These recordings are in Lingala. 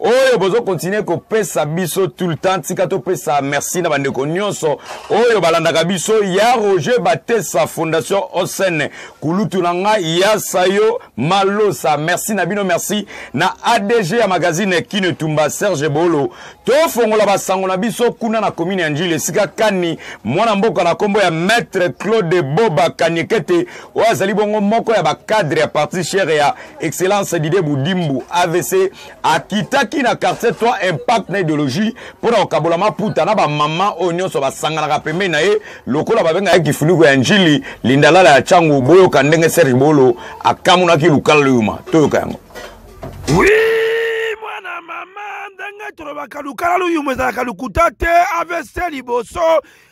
oyo bozo continuer kopesa biso tout le temps tika topesa merci na bandeko nyonso oyo balandaka biso ya roger batesa fondation osen kulutu na ngai ya sayo malosa merci na bino merci na adg ya magazine kino etumba serge bolo tofongola basango na biso kuna na komine ya njili esika kani mwana mboka na nkombo ya maître claude boba kaniekete oyo azali bongo moko ya bacadre ya parti chere ya excellence dide budimbu avc akitaki na quartier 3 impact na idéologie mpo na kokabola maputa na bamama oyo nyonso basanganaka pembeni na ye lokola babengaka ye kifuniko ya njili lindalala ya cango boyoka ndenge serge bolo akamonaki lukala loyuma toyoka yango oui, mwana mama ndenge tolobaka lukala loyuma ezalaka lokuta te avc liboso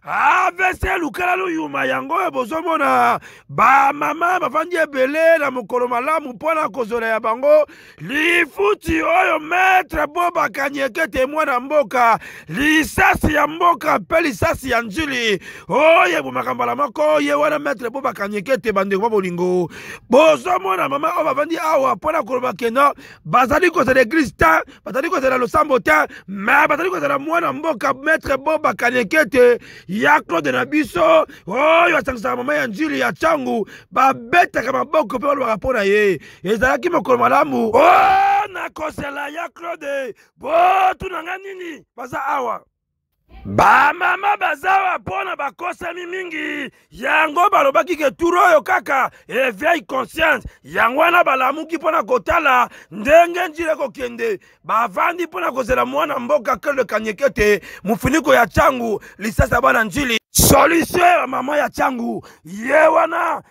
avc lukela luyuma yango oyo bozomona bamama bafandi ebele na mokolo malamu mpo na kozwela ya bango lifuti oyo metre bo bakanyeke te mwana mboka lisasi ya mboka mpe lisasi ya njili oyo ebomaka mbala moko ye wana metre bo bakanyeke te bandeko ba bolingo bozomona mama oyo bafandi awa mpo na koloba keno bazali kozala eglise te bazali kozala losambo te me bazali kozala mwana mboka maître boba kanekete ya claude na biso oyo asangisaka mama ya njili ya ntango babetaka maboko mpe balobaka mpo na ye ezalaki mokolo malamu o oh, nakosela ya claude botuna nga nini baza awa bamama bazawa mpo na bakosami mingi yango balobaki ke turu oyo kaka eveil conscience yango wana balamuki mpo na kotala ndenge njila ekokende bavandi mpo na kozela mwana mboka kele kanyekete mofiniko ya cangu lisasa bana njili solution ya mama ya cangu ye wana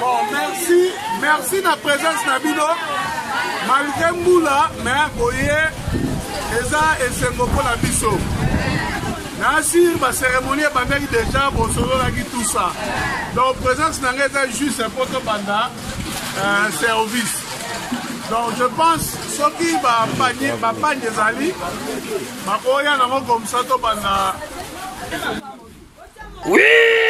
Bon, merci, merci na présence na bino. Malgré mbula, mais boye eza esengo mpo na biso. Na assure ba cérémonie ebandaki déjà bosololaki tout ça. Donc présence na ngai eza juste mpo tobanda euh, service. Donc je pense soki ba panye ba panye ezali bakoya nango comme ça tobanda Oui,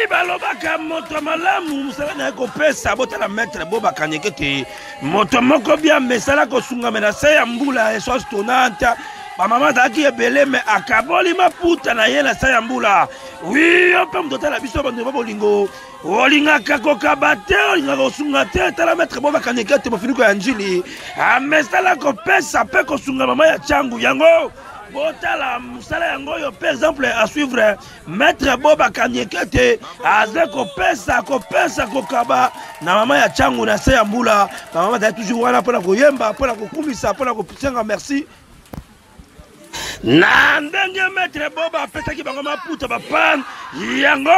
balobaka moto malamu mosala na ye kopesa botala maître bo bakanyeke te moto moko bia mesala kosungame na se ya mbula esoas tonanta bamama azalaki ebele me akaboli maputa na ye na se ya mbula wi yo mpe moto otala biso bandeko ba bolingo olingaka kokaba te olingaka kosunga te tala maître bo bakanyeke te mofiniko ya njili amesala kopesa mpe kosunga mama ya cangu yango botala mosala yango oyo par exemple à suivre maître boba kanyekete aza kopesa kopesa kokaba na mama ya cangu na se ya mbula bamama azali toujours wana mpona koyemba mpona kokumisa mpona kosenga merci na ndenge maître boba apesaki bango maputa bapane yango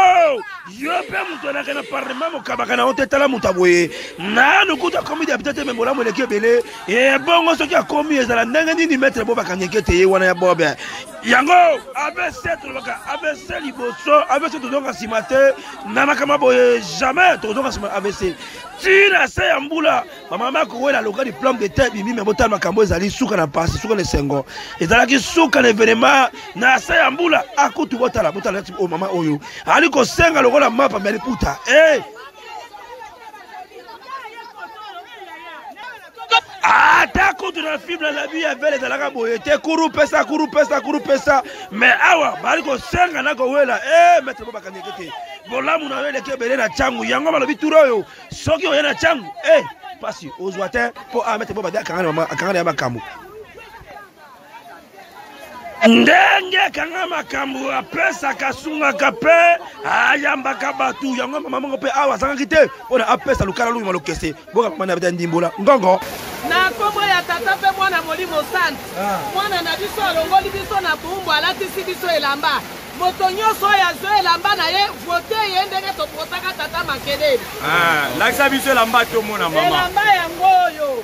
yo mpe moto anake na parlement mokabaka na yo te tala moto aboye nanu kutu akomi depute te me bolamu eleki ebele ebongo soki akomi ezala ndenge nini metre bo bakangeke te ye wana ya bobe yango abc tolobaka abc liboso abc tozonga nsima te na makama boye jamais tokozonga nsima abc ti na se ya mbula bamama akowela loka diplome de te bimi me botala makambo ezali suka na mpasi suka na esengo ezalaki suka na evenema na se ya mbula akutu botala botala ti o oh, mama oyo ali kosenga lokola mapa me aliputa e eh! hey! ata kutu na filme na bi ya vele ezalaka boye te kuru pesa kuru pesa kuru pesa me awa bali kosenga na kowela e eh, maitre bo bakangeke te bolamu na yo eleki ebele na ntango yango balobi turo oyo soki oye na ntango e eh, mpasi ozwa te mpo awa ah, maitre bo badi akanga na ya makambo ndenge kanga makambo apesaka asungaka mpe ayambaka bato yango mama moko mpe awa azangaki te mpo na apesa lokala longima lokese boka mama na beta ndimbola ngongo na nkombo ya tata mpe mwana molimo santu ah. mwana na biso alongoli biso na boumbu alatisi biso elamba moto nyonso oyo azwi elamba na ye vote ye ndenge topotaka tata makelele ah, lakisa biso elamba tomona mama elamba yango oyo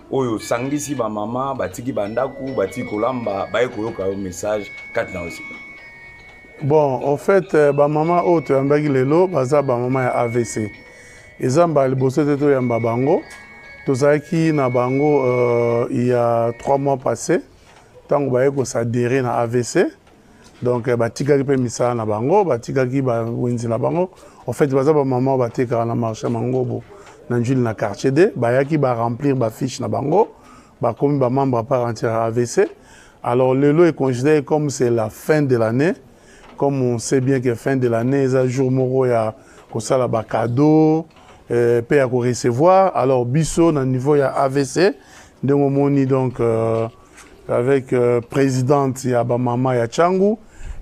oyo osangisi bamama batiki bandako batiki kolamba baye koyoka yo message kati na osika bon au fait euh, bamama oyo toyambaki lelo baza bamama ya avc eza mbala liboso te toyamba bango tozalaki na bango uh, ya 3 mois passé ntango baye kosadere na avc donc eh, batikaki mpe misala na bango batikaki bawenzi na bango en fait baza bamama batekaka na marché ya mangobo na njili na quartier d bayaki baremplir bafiche na bango bakomi bamembre ya part entière ya avc alors lelo econsidere comme c'est la fin de l'année comme on sait bien que fin de l'année eza jour moko ya kosala bacadeau eh, mpe ya korecevoir alors biso na niveau ya avc ndenge omoni donc euh, avec euh, présidente ya bamama ya Changu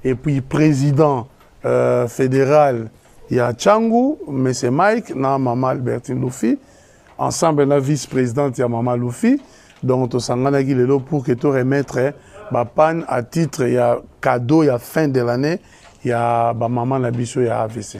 et puis président euh, fédéral ya Changu, M. Mike, na maman Albertine Luffy, ensemble na vice-présidente ya maman Luffy. Donc tosanganaki lelo pour que to remettre eh, ba panne à titre ya cadeau ya fin de l'année ya ba maman na biso ya AVC.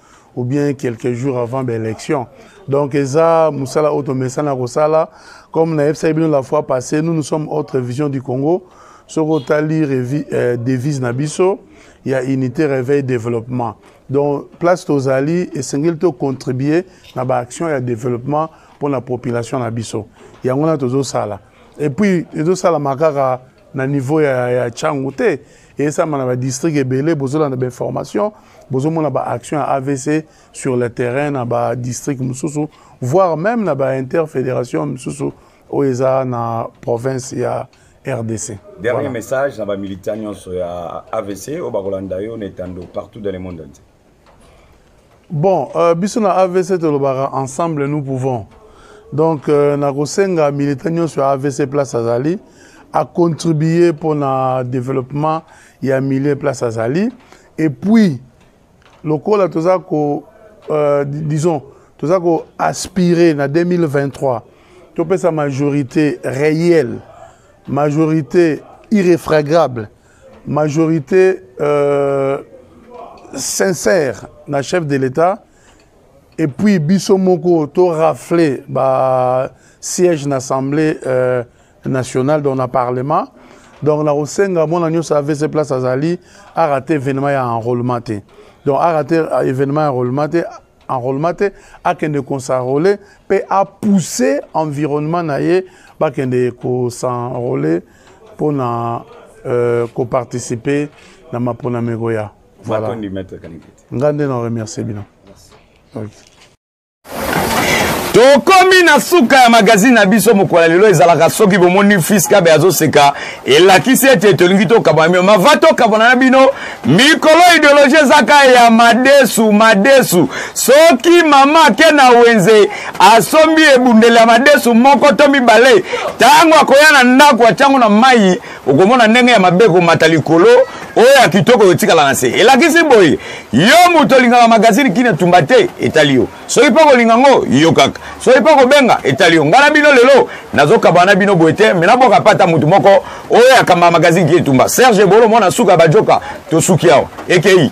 ou bien quelques jours avant ba élection donc eza mosala oyo tomesana kosala comme na yebisaki bino la fois passé nous nous sommes autre vision du congo soki otali euh, devise na biso ya unité réveil développement donc place tozali esengeli tocontribue na baaction ya développement mpo na population na biso yango wana tozosala epuis ezosalama kaka na niveau ya, ya changu te eyesama na badistrict ebele bozolanda bainformation bozomona baaction ya avc sur le terrain na badistrict mosusu voire même na bainterfédération mosusu oyo eza na province ya rdc dernier voilà. message na bamilitant nyonso ya avc oyo bakolanda yo na etando partout dans le monde entier Bon, euh, biso na AVC tolobaka ensemble nous pouvons. Donc euh, na kosenga militant nyonso ya AVC place azali a contribuer mpo na développement ya milieu place azali et puis lokola toza ko euh, disons toza ko aspirer na 2023 topesa majorité réelle majorité irréfragable majorité euh, sincère na chef de l'état et puis biso moko to rafler ba siège na assemblée euh, nationale dans na parlement donc na kosenga mwana nyonso avc place azali arate événement ya enrôlement te donc arate événement ya enrôlement te enrôlement te akende consarole mpe apousse environnement na ye bakende kosenrole mpo na euh, koparticipe na maponami ekoya voilà. ngai nde na remercie bino okay. tokomi na suka ya magazine na biso mokolo lelo ezalaka soki bomoni fiskabe azoseka elakisi ete tolingi tokabwana bino mava tokabwana na bino mikolo ideologie ezaka ya madesu madesu soki mama ake na wenze asombi ebundeli ya madesu moko to mibale ntango akoya na ndako atyango na mai okomona ndenge ya mabe komata likolo oyo ya kitoko etikala na se elakisi boye yo moto olingaka magazini kini etumba te etali yo soki mpe okolinga ngo yo kaka soki mpe okobenga etali yo ngai na bino lelo nazokaba na bino boye te me nabwaka mpe ata motu moko oyo akamba magazine ki etumba serge bolo mwana suka bajoka tosuki awa ekei